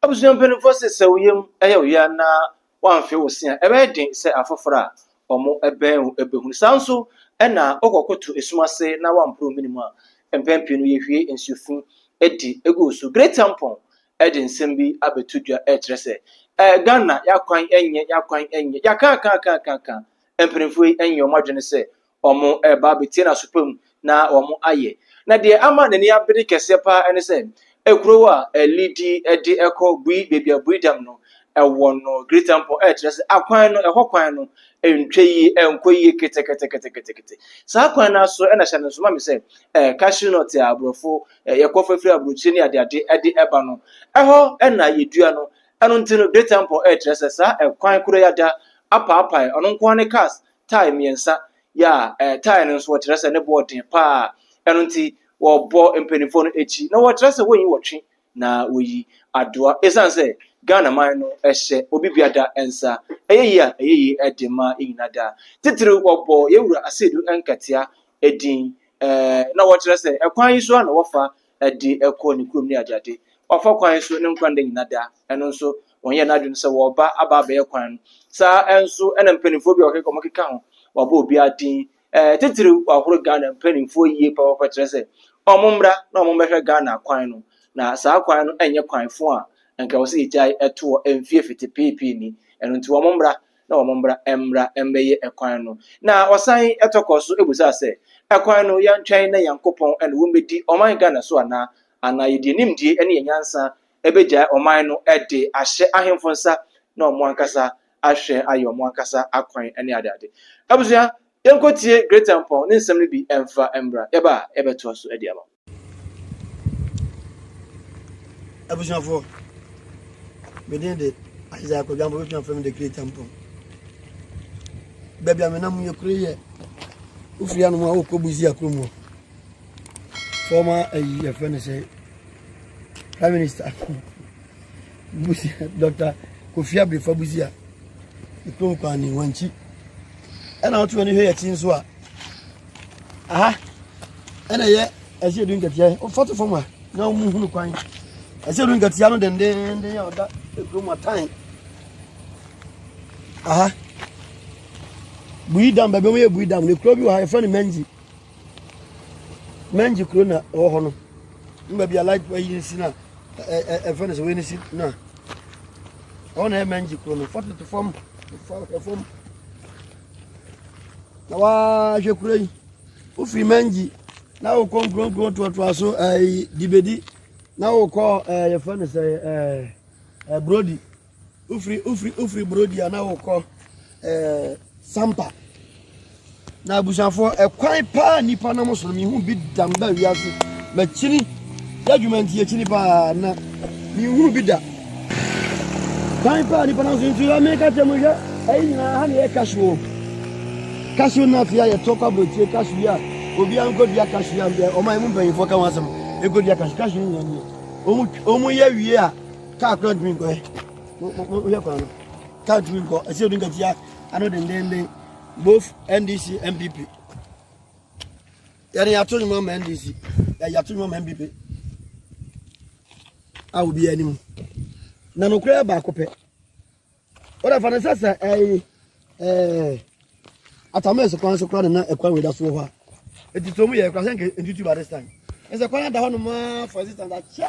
Abusua mpanyimfo se sɛ wo yam yɛ wo ya na woamfe wo se a, ɛbɛyɛ den sɛ afoforo a wɔbɛn wo behu. Saa ara nso na wokɔkoto esum ase na woamporo wo mene mu a, mpɛn pii no yehwie nsu fi di gu wo so. Great Ampong de nsɛm bi abɛto dwa rekyerɛ sɛ, eh, Ghana, y'akwan nyɛ, y'akwan nyɛ, y'akãkãkãkãkã. Mpanyimfo yi nyɛ wɔn adwene sɛ wɔreba abɛtie n'asopa mu na wɔayɛ. Na deɛ ama n'ani abere kɛseɛ paa ne sɛ, ekuro a Lidi de kɔ bui baabi a bui dam no ɛwɔ no, Greater Mpɔ, ɛkyerɛ sɛ akwan no, ɛhɔ kwan no ntwa yie, ɛnkɔ yie keteketeketekete. Saa kwan no ara so na hyɛ no nso ma me sɛ cashew nut a aborɔfo yɛkɔ fafiri aburokyire ne adeade de ɛba no, ɛhɔ na yɛdua no. Ɛno nti no, Greater Mpɔ ɛkyerɛ sɛ saa ɛkwan korɔ yi ada apaapae, ɔno nko ara ne cars tae mmiɛnsa, ya, ɛɛ, tae no nso wɔkyerɛ sɛ ne boɔ den paa, ɛno nti wɔbɔ mpanimfoɔ no akyi na wɔkyerɛ sɛ wɔnyi wɔtwe na wɔyi adoa ɛsiane sɛ Ghana man no ɛhyɛ obi biada nsa ɛyɛ yie a ɛyɛ yie ɛde ma yɛ nyina da titiri wɔbɔ yɛwura aseedu nkatea ɛdin ɛɛ na wɔkyerɛ sɛ ɛkwan yi so a na wɔfa de kɔ ne kurom ne adeade. Wɔafa kwan so ne nkwa nna nyinaa da. Ɛno nso, wɔnyɛɛ n'adwene sɛ wɔreba aba abɛyɛ kwan no. Saa ara nso na mpanimfoɔ bi a wɔkeka wɔkeka ho, wɔabɔ obiara din. Titiriw, wɔahoro Ghana mpanimfoɔ yie papaapa kyerɛ sɛ wɔmmra na wɔmmɛhwɛ Ghana kwan no. Na saa kwan no nyɛ kwan fõ a anka ɛwɔ sɛ yɛgyae toɔ mfeɛ fete pii pii ni. Ɛno nti, wɔmmra na wɔn mmra mmra mmɛyɛ ɛkwan no. Na ɔsan tɔ kɔ so bisa sɛ, Ɛkwan no, yɛntwɛn na Nyankopɔn ne wɔn bɛdi ɔman Ghana so anaa? Anaa yɛde yɛn nimdeɛ ne yɛn nyansa bɛgyae ɔman no de ahyɛ ahemfo nsa na wɔn ankasa ahwɛ ayɛ wɔn ankasa akwan ne adeade? Abusua, yɛnkɔtie Greater Mpɔn ne nsɛm no bi mfa mmra. Yɛba a, yɛbɛtoa so de ama wo. abusuafoɔ medin de isaiah kwadwampo bɛtumi afrɛ me de kreta mpɔn baabi a menam yɛ kuro yɛ wofiri anom a wokɔ busi akuro mu fɔma ayi yɛfrɛ no sɛ prime minister busi dr kofi abirifa busi a ɛkurom kwan ne wankyi ɛna wotumi ne hwɛ yɛkyi nso a aha ɛna ɛyɛ ɛsɛ edu nkatia yi ɔfa to fam a na wɔn hunu kwan ɛsɛ edu nkatia no dendenden a ɔda ekuro mu atan aha buyi dam baabi wɔn yɛ buyi dam na ekuro bi wɔ ha yɛfrɛ no mɛngyi mɛngyi kuro na ɛwɔ hɔ no ne baabi a light ɛyi si na ɛ ɛ ɛfrɛ no sɛ wɔn si na wɔn na ɛyɛ mɛngyi kuro no fa to fam fa fam. na wahwɛ kuro yi wofiri mangi na wokɔ nkuronkuro toatoa so ɛɛ dibedi na wokɔ ɛɛ eh, yɛfrɛ no sɛ ɛɛ eh, ɛɛ eh, brodi wofiri wofiri wofiri brodi a na wokɔ ɛɛ sampa na abusuafoɔ ɛkwan paa nipa nam so no mihu bi damba wiase makyini. Yɛ adwuma nti akyini paa na menhunu bi da. Kwan paa nipa nanso nti yɛ meka kyerɛ mo hwɛ ɛyi nyinaa ha na yɛ cashew o. Cashew nut yɛ yɛtɔ kɔ aburokyire cashew yɛ obiara nkɔdua cashew yɛ deɛ ɔma ɛmu mpanyinfoɔ ka ho asɛm ɛkɔdua cashew cashew no nyinaa nie. Ɔmo yɛ wie a kaa kora ntumi nkɔ ɛ. Wohwɛ kwan no kaa ntumi nkɔ ɛsɛ yɛdu nkatia ano dendenden both NDC MPP. Yɛne yɛato nnwom ama NDC, yɛato nnwom ama NPP a obiara anim. Na nokorɛ yɛ baako pɛ. Wode fa no sɛ sɛ ɛyi ɛɛ atamɛs kwan so kora ne na ɛkwan wei da so wɔ hɔ a ɛti sɛ ɔmu yɛ kora sɛ nka ntutu ba this time ɛsɛ kwan ada hɔ nom a for existence akyɛ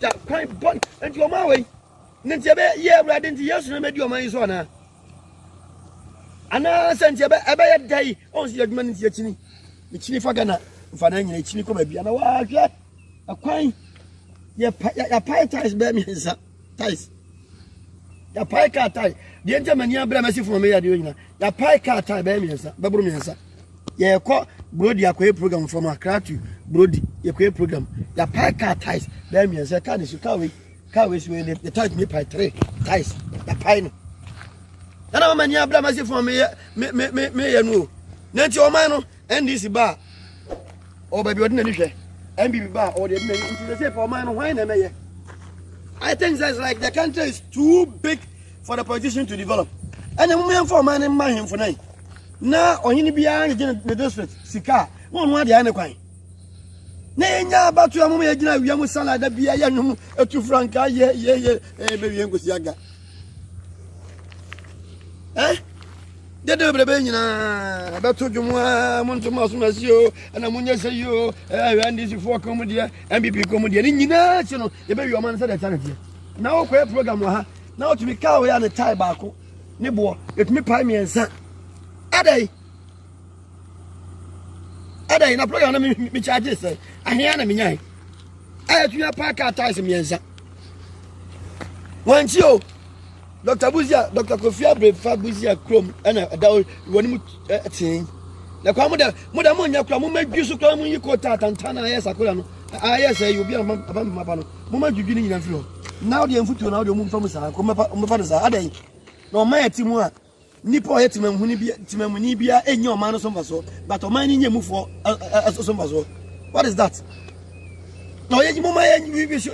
da kwan bɔn nti wɔn a wɔyi ne nti ɛbɛ yɛ awurade nti yesu na mɛdi wɔn ayi so anaa anaa sɛ nti ɛbɛ ɛbɛ yɛ da yi wɔn so yɛ adwuma ne nti akyini akyini fa gana nfa na nyina akyini kɔ baabi ana wɔahwɛ ɛkwan yɛ pa yɛ pa tais bɛɛ mmiɛnsa tais yɛapae kaa tae deɛ nti a m'ani abrɛ mɛsi fam a meyɛ adeɛ nyina yɛapae kaa tae bɛyɛ mmiɛnsa bɛboro mmiɛnsa yɛkɔ brodi akɔyɛ program from akra to brodi yɛkɔyɛ program yɛapae kaa tae bɛyɛ mmiɛnsa kaa ne su kaa wei kaa wei su wei ne tae tumi pae tere tae yɛapae no ɛna mama ani abrɛ mɛsi fam a meyɛ meyɛ no o na nti ɔman no NDC ba a, ɔwɔ baabi a ɔde n'ani hwɛ. NPP ba a, ɔwɔ deɛ ɛde n'ani nti sɛ sɛ ɔman no hwan na ɛmɛyɛ? I think that it's like the country is too big for the politician to develop. And the moment for man in my him for night. Now, on any behind the district, Sika, one one the other kind. Nay, now, about to a moment, you know, we are Musala, the Bia, you know, a two franca, yeah, yeah, yeah, baby, and Gusiaga. Eh? dede bebrebe nyinaa ɛbɛto dwom a monto ma so masi o ɛna monyɛ sɛ yi o ɛhwɛ ndcfoɔ kɔn mu deɛ mpp kɔn mu deɛ ne nyinaa akyi no yɛbɛwi ɔma no sɛ deɛ ɛta ne deɛ na wokɔyɛ program wɔ ha na wotumi kaa woyɛ a ne tae baako ne boɔ ɛtumi pae mmiɛnsa adɛn ɛda yi na program na mi charge sɛ ahia na mi nya yi ɛyɛ tumi apa car tires mmiɛnsa wɔn ti o dr buzia dr kofi abrefa buzia kurom ɛna ɛda o wɔn mu ɛtee na kwan mo dɛ mo dɛ mo nya kura mo ma dwi so kura mo yi kɔ taa tantan na ayɛ sakora no ayɛ sɛ yi obi a ma ba ma ba no mo ma dwidwi ne nyina fi hɔ na ɔde mfutuo na ɔde ɔmo nfa mu saa kɔ mo mɛfa no saa adɛ yi na ɔma yɛ ti mu a. Nnipa a wɔyɛ temamuni biara nnya ɔman no so mfasoɔ but ɔman no nya emufoɔ so mfasoɔ. What is that? Na ɔyɛ yi mo ma yɛ we should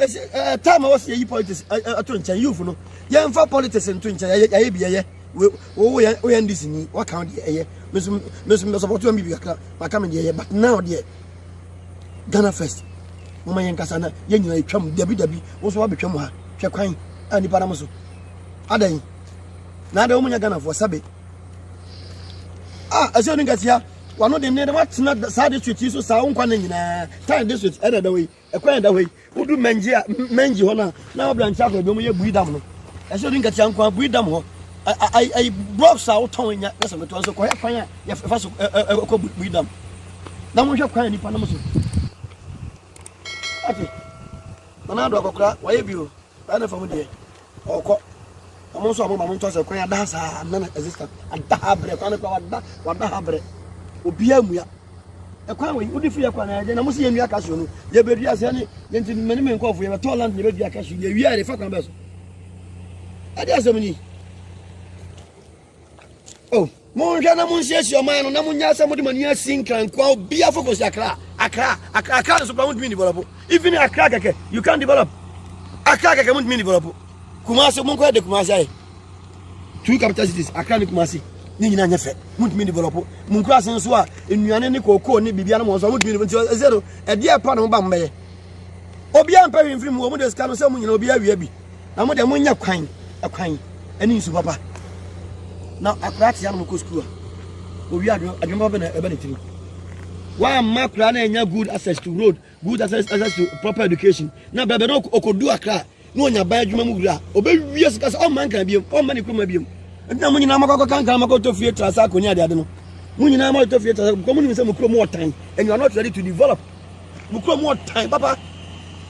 time a wɔsi yɛyi politics ato nkyɛn youth no yɛnfa politics nto nkyɛn yɛyɛ yɛyɛ bi yɛyɛ wo wo yɛ wo yɛ ndc ni waka deɛ ɛyɛ mesu mesu mbɛ support wɔn bibi kakra maka mi deɛ ɛyɛ but now deɛ Ghana first mo ma yɛn kasa na yɛn nyinaa yɛ twam dabi dabi wɔn nso wabɛtwam ha hwɛ kwan a nipa nam so adan. na de wɔn nyɛ ghanafoɔ sɛbe a ɛsɛ ne nkasia wano de nne de watena saa district yi so saa nkwa ne nyinaa tan district ɛna ɛda hɔ yi ɛkwan ɛda hɔ yi wodu mɛngye a mɛngye hɔ no a na wabrankyɛ akɔ ebi wɔn yɛ bui dam no ɛsɛ ne nkasia nkwa bui dam hɔ ayi blocks a wotɔn nya ɛsɛ ne tɔn so kɔyɛ kwan a yɛfa so ɛkɔ bui dam na wɔhwɛ kwan nipa nom so ate nana do akɔkora wɔyɛ bi o ɛna fam deɛ Ɔkɔ. Ɔmo nso a ɔmo ma mo ntɔ sɛ kwan ada ha saa nna na ɛsɛ sika ada ha brɛ kwan no kora wada wada ha brɛ obiara mua ɛkwan wɔ yi wodi fi yɛ kwan na yɛde na mo si yɛ nua kasuo no yɛ bɛ dua sɛ ne yɛn ti mɛ ne me nkɔfo yɛ bɛ tɔ land yɛ bɛ dua kasuo yɛ wia yɛ de fa kwan bɛ so ɛde asɛm ni. Oh, monhwɛ na monsiesie ɔman no na monyɛ sɛ mode mani asi nkrankoa obia fo kɔsi akra akra akra akra nso pa montumi develop even akra kɛkɛ you can develop akra kɛkɛ montumi develop kumase monkɔyɛ de kumase ayɛ two capital cities akra ne kumase ne nyinaa nyɛ fɛ montumi develop monkurase nso a nnuane ne kookoo ne biribia no mɔ nso a montumi nti ɛsɛ no ɛdeɛ ɛpa ne ho ba mbɛyɛ obia mpɛ hwemfiri mu ɔmo de sika no sɛ mo nyina obia awia bi Na mo deɛ mo nyɛ kwan kwan ɛne nsu papa na akora te anam kɔ sukuu a owi adwuma adwuma papa na ɛbɛ ne tiri wɔamma akora na ɛnya good access to road good access access to proper education na bɛbɛ na ɔkɔdu akra na ɔnya ban adwuma mu wura ɔbɛwie sika sɛ ɔmma nkran biom ɔmma ne kuruma biom ɛnna mo nyinaa mɔkɔkɔ kankan mɔkɔtɔ fie tra sɛ akɔnya adeade no mo nyinaa mɔkɔtɔ fie tra sɛ kɔmu nim sɛ mo kuro mu ɔtan and you are not ready to develop mo kuro mu ɔtan papa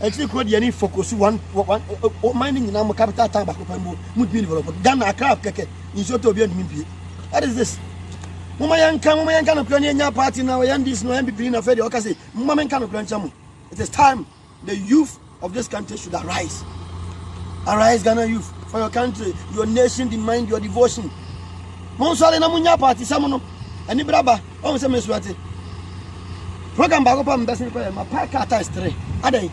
Akyiri kuro deɛ ne fokosu one ɔman no nyinaa mu capital town baako pɛ mpo motumi develop no Ghana Accra kɛkɛ nsuo tɔ obiara ntumi mpue what is this moma yɛnka moma yɛnka nokorɛ ne yɛnya party na ɔyɛ NDC na ɔyɛ NPP ni na afei deɛ ɔka sɛ moma menka nokorɛ nkyɛ mo it is time the youth of this country should arise arise Ghana youth for your country your nation demand your devotion monsɔre na monya party sɛ mo no ɛne braba ɔhu sɛ mesu ate program baako pa mebɛsen kɔyɛ mapae kaa times tere adɛn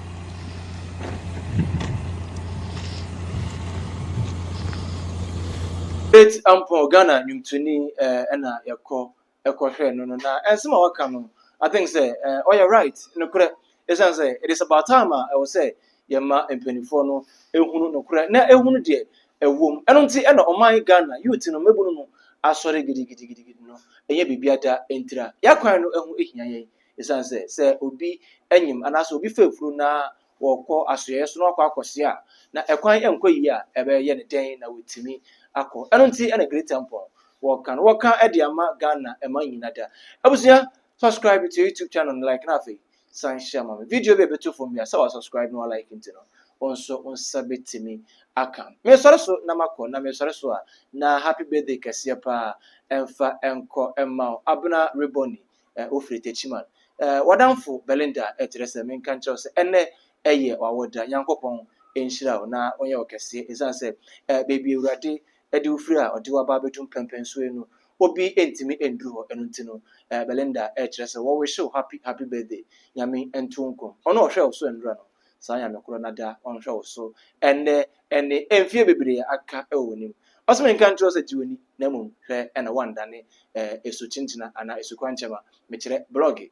Faith Ampong Ghana nnwomtoni eh, ɛna yɛkɔ ɛkɔhwɛ no no na ɛnsɛm a waka no I think sɛ eh, ɔyɛ right nokorɛ Esiane sɛ it is about time a ɛwɔ sɛ yɛma mpanimfoɔ no hunu nokorɛ na ɛhunu deɛ ɛwɔ mu. Ɛno nti na ɔman Ghana youth no mmabunu no asɔre gidigidigidigidi no. Ɛnyɛ biribia da ntira. Y'akwan no ho hia yɛn. Esiane sɛ sɛ obi nyem anaasɛ obi fa afuro na ɔkɔ asoɛeɛ so na wakɔ akɔsoɛ a, na ɛkwan nkɔ yie a, ɛbɛyɛ no dɛn na watumi akɔ. Ɛno nti na Great Temple wɔka no wɔka de ama Ghana man nyina da. Abusua Subscribe to YouTube channel no like na afei san hyɛ ma me. Video bi a ɛbɛto fam bi a sɛ wa subscribe na wa like nti no, wo nso wo nsa bɛtumi aka. Mesɔre so na makɔ na mesɔre so a na happy birthday kɛseɛ paa ɛmfa ɛnkɔ ɛmma wo. Abena Reboni, eh, wofiri Techiman. Eh, wadamfo Belinda ɛkyerɛ sɛ menka nkyerɛ wo sɛ ɛnɛ ɛyɛ w'awoda. Nyankopɔn nhyira wo na ɔnyɛ wo kɛseɛ ɛsiane sɛ eh, baabi Awurade de wo firi a ɔde wo aba abɛdu mpɛmpɛn so yi no, obi ntumi nduru hɔ, ɛno nti no eh, Belinda ɛkyerɛ sɛ wɔ wish wo happy happy birthday, Nyame nto wo nko, ɔno a ɔhwɛɛ wo so ɛnora no, saa Nyame korɔ no ada ɔnhwɛ wo so ɛnnɛ ɛne mfie bebree aka ɛwɔ w'anim. Ɔse menka nkyerɛ wo sɛ gye w'ani na mmom hwɛ na woandane eh, ɛsu kyenkyena anaa ɛsu kwankyɛma, mekyerɛ blɔge.